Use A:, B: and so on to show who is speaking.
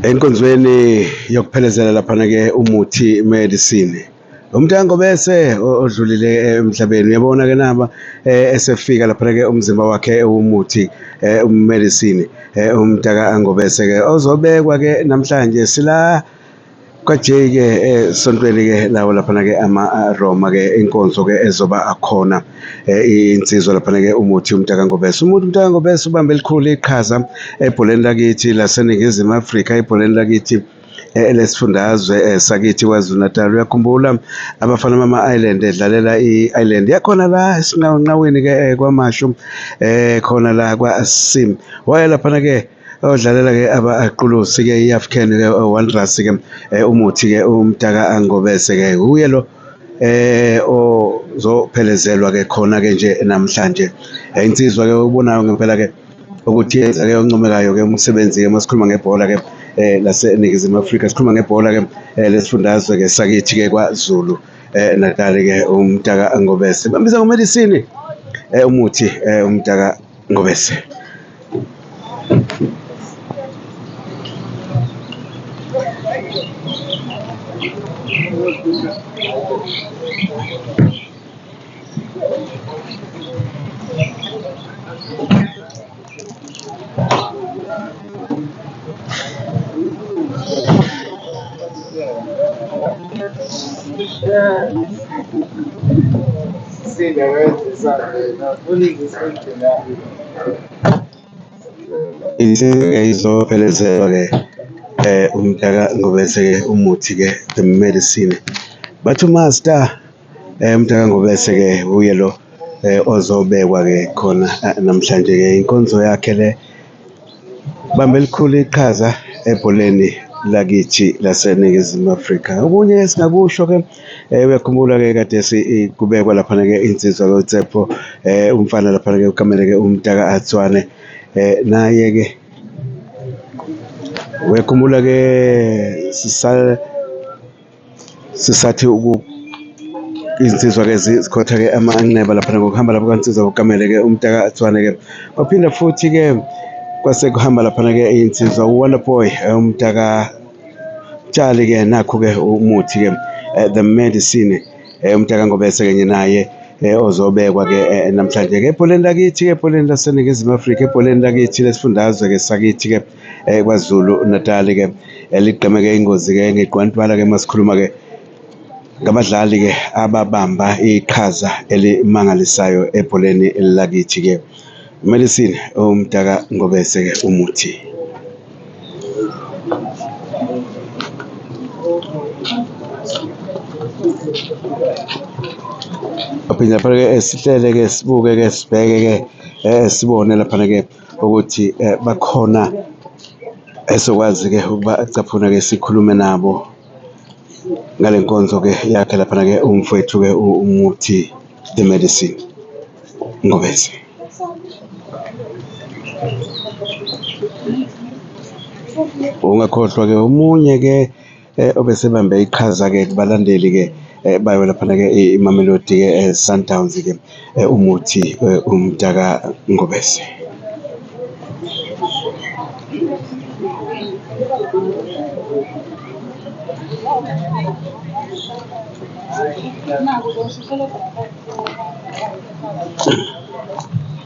A: enkonzweni yokuphelezela laphana-ke umuthi medicine Umtango bese odlulile eh, emhlabeni uyabona ke naba eh, esefika lapha ke umzimba wakhe ewumuthi eh, umedicine umtaka angobese ke ozobekwa ke namhlanje sila kwajay ke esontweni ke lawo lapha ke ama Roma ke inkonzo ke ezoba akhona insizwa lapha ke umuthi umtaka ngobese umuntu umtaka ngobese ubambe elikhulu iqhaza ebholeni lakithi laseningizimu Afrika ebholeni lakithi lesifundazwe eh, sakithi KwaZulu-Natal uyakhumbula abafana bama-island edlalela i-island yakhona la esinqawenqaweni-ke eh, kwamashu um eh, khona la kwasim waye laphana-ke odlalela-ke abaqulusi-ke i-african-ke wanderers-ke um umuthi-ke umdaka angobese-ke uye lo eh ozophelezelwa ke khona ke nje namhlanje insizwa ke obonayo ngempela ke ukuthi yenzeke oncomekayo-ke umsebenzi-ke uma sikhuluma ngebhola-ke eh laseNingizimu Afrika sikhuluma ngebhola-ke eh, lesifundazwe-ke sakithi-ke kwaZulu eh, Natali-ke umtaka Ngobese bambiza ngoMelisini eh, umuthi eh, umtaka Ngobese Thank you. Inkinga izophelezelwa-ke umtaka ngobese-ke umuthi-ke the medicine, bathi uMaster. Mtaka Ngobese ke uye lo ozobekwa ke khona namhlanje ke inkonzo yakhe le bambe elikhulu iqhaza ebholeni lakithi laseNingizimu Afrika. Okunye esingakusho ke uyakhumbula ke kade kubekwa laphana ke insizwa loTsepho umfana laphana ke ukamele ke umtaka Atswane naye ke uyakhumbula ke sisal Sisathi uku izinsizwa-ke zikhotha-ke amanxeba laphana ngokuhamba lapho kansizwa kugamele-ke umtaka athwane-ke kwaphinda futhi-ke kwase kuhamba laphana-ke iy'nsizwa u-wonder boy eh, umtaka tshali-ke nakhu-ke umuthi-ke eh, the medicine eh, umtaka ngobese-ke nye naye eh, ozobekwa-ke eh, namhlanje-ke ebholeni lakithi-ke ebholeni laseningizimu afrika ebholeni lakithi lesifundazwe-ke sakithi-ke eh, KwaZulu Natal ke eligqemeke ingozi ke ngeqwantwala ke masikhuluma ke ngabadlali ke ababamba iqhaza elimangalisayo ebholeni lakithi ke medicine umdaka ngobese ke umuthi aphinde lapha-ke sihlele-ke sibuke-ke sibheke-ke um sibone laphana-ke ukuthi bakhona esokwazi-ke ukuba acaphune-ke sikhulume nabo ngale nkonzo-ke yakhe laphana-ke umfwethu-ke umuthi the medicine ngobese ungakhohlwa-ke omunye-ke eh, obesebambe iqhaza-ke kubalandeli-ke eh, bayo laphana-ke imamelodi-ke eh, sundowns-ke eh, umuthi eh, umdaka ngobese Thank you.